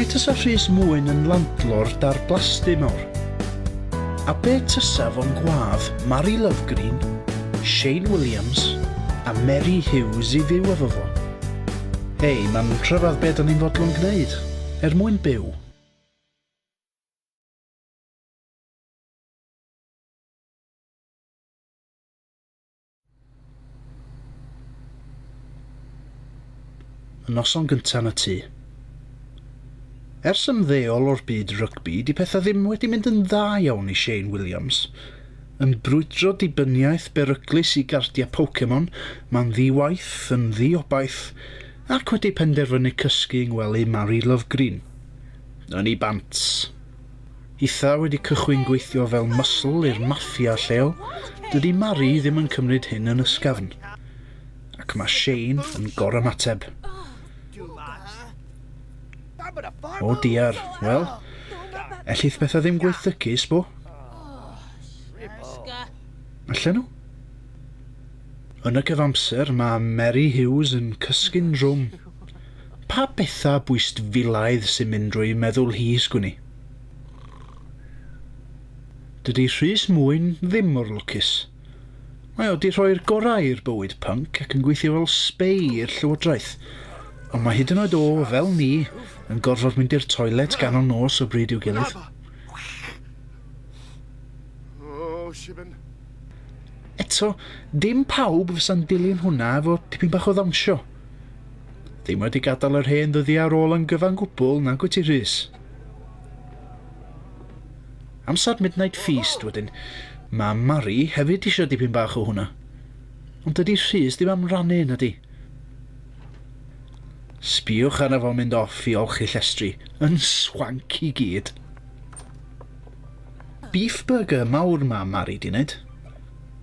Be tysa Rhys Mwyn yn landlord dar blasty mawr? A be tysa fo'n gwadd Mari Lovegreen, Shane Williams a Meri Hughes i fyw efo fo? Hei, mae'n rhyfedd be da ni'n fodlon gwneud, er mwyn byw. Y noson gynta' yn y tŷ. Ers ymddeol o'r byd rygbi, 'di petha ddim wedi mynd yn dda iawn i Shane Williams. Yn brwydro dibyniaeth beryglus i gardia' Pokemon, ma'n ddi-waith, yn ddi-obaith, ac wedi penderfynu cysgu yng ngwely Mari Lovgreen. Ynni bant. Itha wedi cychwyn gweithio fel muscle i'r maffia lleol, dydy Mari ddim yn cymryd hyn yn ysgafn. Ac mae Shane yn gorymateb. O diar, wel, ellith pethau ddim gweithygu, sbo? Allan nhw? Yn y cyfamser mae Mary Hughes yn cysgu'n drwm. Pa betha bwystfilaidd sy'n mynd drwy meddwl hi, sgwn i? Dydy Rhys Mwyn ddim mor lwcus. Mae o 'di rhoi'r gorau i'r bywyd pync ac yn gweithio fel sbei i'r llywodraeth, ond mae hyd yn oed o, fel ni, yn gorfod mynd i'r toilet ganol nos o bryd i'w gilydd. Eto, dim pawb fysa'n dilyn hwnna efo tipyn bach o ddawnsio. Ddim wedi gadael yr hen ddyddiau ar ôl yn gyfan gwbl, nag wyt ti, Rhys? Amser Midnight Feast wedyn. Mae Mari hefyd eisiau dipyn bach o hwnna. Ond dydy Rhys ddim am rannu, na di? Sbiwch arno fo'n mynd off i olchi llestri. Yn swanc i gyd. Beef burger mawr mae Mari di wneud.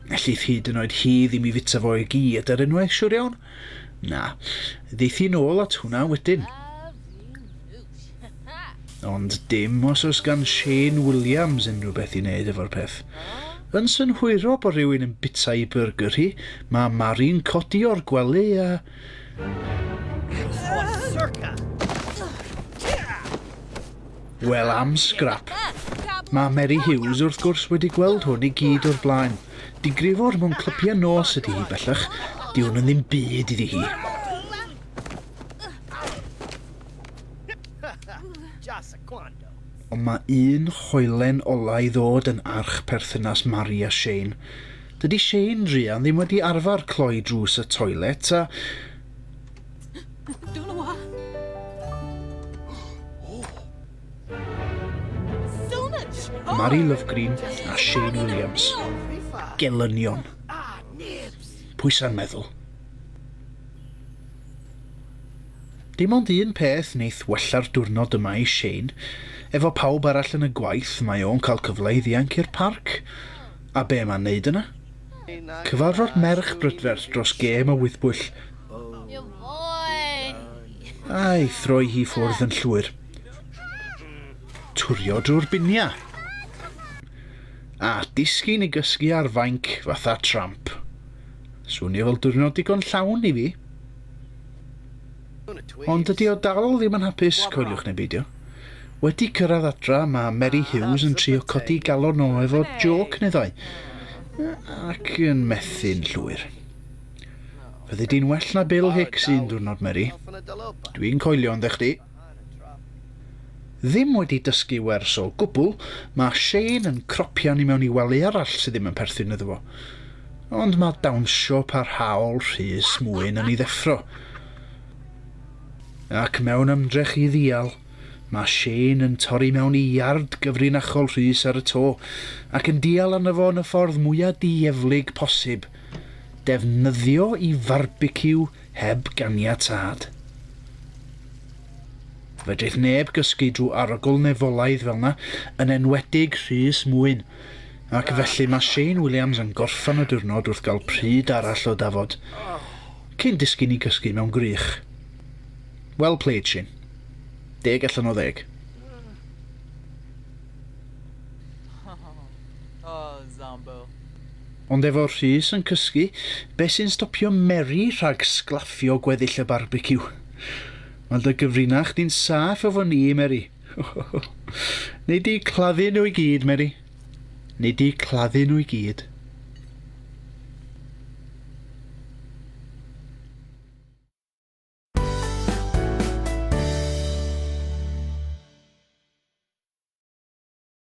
Ellith hyd yn oed hi ddim i fita fo i gyd ar unwaith, siwr iawn. Na, ddeith hi'n ôl at hwnna wedyn. Ond dim os oes gan Shane Williams unrhyw beth i wneud efo'r peth. Yn synhwyro bod rhywun yn bita i byrgyr hi, mae Mari'n codi o'r gwely a Wel am sgrap. Mae Meri Hughes wrth gwrs wedi gweld hwn i gyd o'r blaen. Digrifwr mewn clypiau nos ydy hi bellach. Di hwn yn ddim byd iddi hi. Ond mae un hoelen ola i ddod yn arch perthynas Mari a Shane. Dydy Shane, Rhian, ddim wedi arfer cloi drws y toilet a... Don't know what. So much! Mari Lovegreen a Shane Williams. Gelynion. Pwysa'n meddwl. Dim ond un peth neith wella'r diwrnod yma i Shane, efo pawb arall yn y gwaith mae o'n cael cyfle i ddianc i'r parc. A be' mae'n neud yna? Cyfarfod merch brydferth dros gêm o wyddbwyll. A'i throi hi ffwrdd yn llwyr. Turio drwy'r binia. A disgyn i gysgu ar fainc fatha tramp. Swnio fel diwrnod digon llawn i fi. Ond dydy o dal ddim yn hapus, coeliwch neu beidio. Wedi cyrraedd adra, mae Meri Hughes yn trio codi galon o efo jôc neu ddau, ac yn methu'n llwyr. Fyddi di'n well na Bill Hicks un diwrnod, Meri. Dwi'n coelio yndda chdi. Ddim wedi dysgu wers o gwbl, ma Shane yn cropian i mewn i wely arall sy ddim yn perthyn iddo fo. Ond ma dawnsio parhaol Rhys Mwyn yn i ddeffro. Ac mewn ymdrech i ddial, ma Shane yn torri mewn i iard gyfrinachol Rhys ar y to, ac yn dial arno fo yn y ffordd mwya dieflig posib, defnyddio i farbiciw heb ganiatâd. Fedrith neb gysgu drwy arogl nefolaidd fel 'na, yn enwedig Rhys Mwyn. Ac felly mae Shane Williams yn gorffan y diwrnod wrth gael pryd arall o dafod, cyn disgyn i gysgu mewn gwrych. Well played, Shane. Deg allan o ddeg. Ond efo Rhys yn cysgu, be' sy'n stopio Meri rhag sglaffio gweddill y barbeciw? Mae dy gyfrinach chdi'n saff efo ni, Meri. Nei di claddu nhw i gyd, Meri. Nei di claddu nhw i gyd.